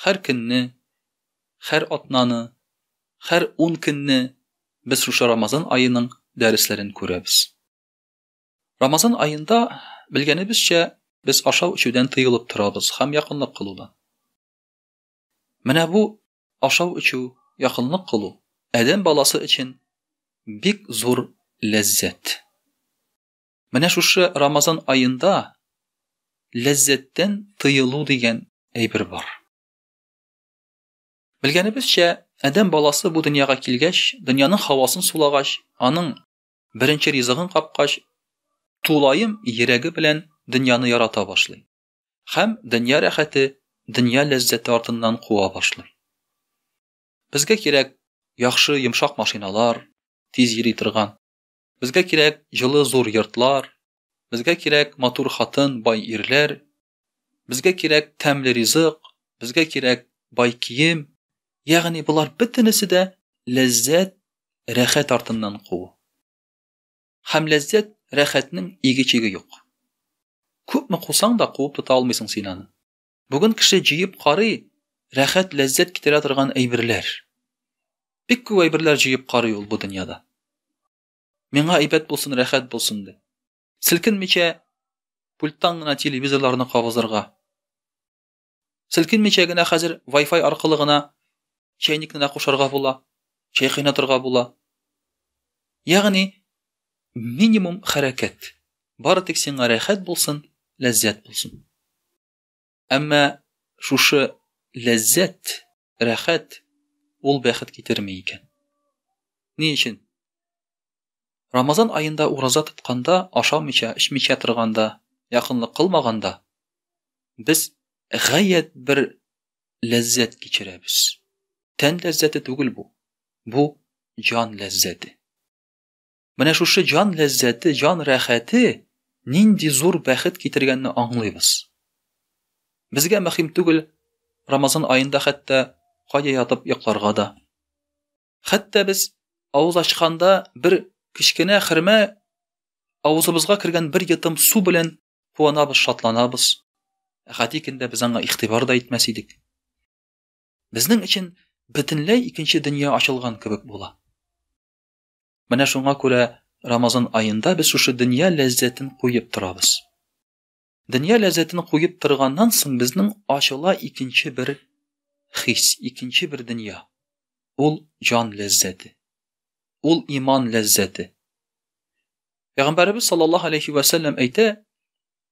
Хәр көнне, хәр атнаны, хәр ун көнне без шушы Рамазан аеның дәресләрен күрәбез. Рамазан аенда, белгәнебезчә, без ашау-эчүдән тыелып торабыз һәм якынлык кылудан. Менә бу ашау-эчү, якынлык кылу адәм баласы өчен бик зур ләззәт. Менә шушы Рамазан аенда ләззәттән тыелу дигән әйбер бар. Белгәнебезчә, Адәм баласы бу дөньяга килгәч, дөньяның хавасын сулагач, аның беренче ризыгын капкач, тулаем йөрәге белән дөньяны ярата башлый. Хәм дөнья рәхәте, дөнья ләззәте артыннан куа башлый. Безгә кирәк яхшы йомшак машиналар, тиз йөри торган. Безгә кирәк җылы зур йортлар, Безгә кирәк матур хатын, бай ирләр, Безгә кирәк тәмле ризык, Безгә кирәк бай кием, Ягъни болар бөтенесе дә ләззәт, рәхәт артыннан куу. Һәм ләззәт, рәхәтнең иге-чиге юк. Күпме кусаң да куып тота алмыйсың син аны. Бүген кеше җыеп карый, рәхәт, ләззәт китерә торган әйберләр. Бик күп әйберләр җыеп карый ул бу дөньяда. Миңа әйбәт булсын, рәхәт булсын дип. Селкенмичә пульттан гына телевизорларны кабызырга. Селкенмичә генә хәзер Wi-Fi аркылы гына чәйникне дә кушарга була, чәй кайнатырга була. Ягъни Минимум хәрәкәт. Бары тик сиңа рәхәт булсын, ләззәт булсын. Әмма шушы ләззәт, рәхәт, ул бәхет китерми икән. Ни өчен? Рамазан аенда ураза тотканда, ашамыйча, эчмичә торганда, якынлык кылмаганда, без гаять бер ләззәт кичерәбез. Тән ләззәте түгел бу. Бу җан ләззәте. Менә шушы җан ләззәте, җан рәхәте нинди зур бәхет китергәнне аңлыйбыз. Безгә мөһим түгел Рамазан аенда хәтта кая ятып йокларга да. Хәтта без авыз ачканда бер кечкенә хөрмә авызыбызга кергән бер йотым су белән куанабыз, шатланабыз. Ә гади көндә без аңа игътибар да итмәс идек. Безнең өчен бөтенләй икенче дөнья ачылган кебек була. Менә шуңа күрә Рамазан аенда без шушы дөнья ләззәтен куеп торабыз. Дөнья ләззәтен куеп торганнан соң безнең ачыла икенче бер хис, икенче бер дөнья. Ул җан ләззәте. Ул иман ләззәте. Пәйгамбәрбез саллаллаһу алейхи ва саллям әйтә,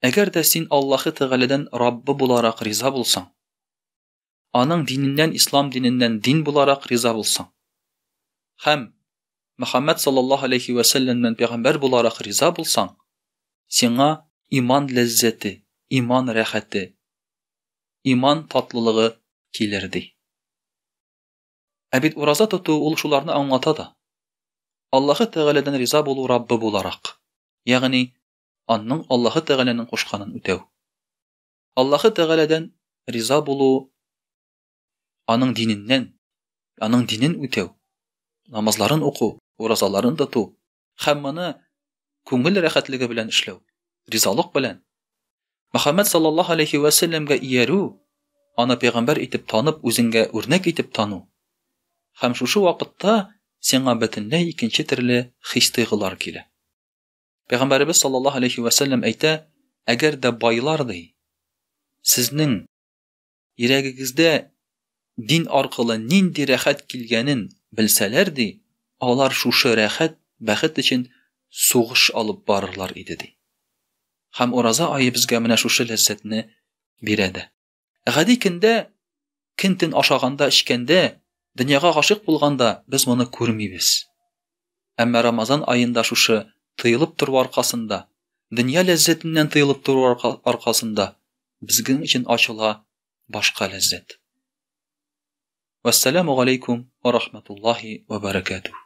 әгәр дә син Аллаһы Тәгаләдән Раббы буларак риза булсаң, аның диненнән ислам диненнән дин буларак риза булсаң һәм Мөхәммәд саллаллаһу алейхи вә сәлләмнән пәйгамбәр буларак риза булсаң, сиңа иман ләззәте, иман рәхәте, иман татлылыгы килер ди. Ә бит ураза тоту ул шуларны аңлата да. Аллаһы Тәгаләдән риза булу Раббы буларак, ягъни анның Аллаһы Тәгаләнең кушканын үтәү. Аллаһы Тәгаләдән риза булу, аның диненнән, аның динен үтәү, намазларын уку, уразаларын тоту һәм моны күңел рәхәтлеге белән эшләү, ризалык белән Мөхәммәд саллаллаһу алейхи вә сәлләмгә иярү, аны пәйгамбәр итеп танып, үзеңгә үрнәк итеп тану. Һәм шушы вакытта сиңа бөтенләй икенче төрле хис-тойгылар килә. Пәйгамбәребез саллаллаһу алейхи вә сәлләм әйтә, әгәр дә байлар ди, сезнең йөрәгегездә дин аркылы нинди рәхәт килгәнен белсәләр ди, алар шушы рәхәт, бәхет өчен сугыш алып барырлар иде ди. Һәм ураза ае безгә менә шушы ләззәтне бирә дә. Гади көндә кин тен ашаганда, эчкәндә, дөньяга гашык булганда без моны күрмибез. Әмма Рамазан аенда шушы тыелып тору аркасында, дөнья ләззәтеннән тыелып тору аркасында безгең өчен ачыла башка ләззәт. Вассаламу алейкум ва рахматуллахи ва баракатух.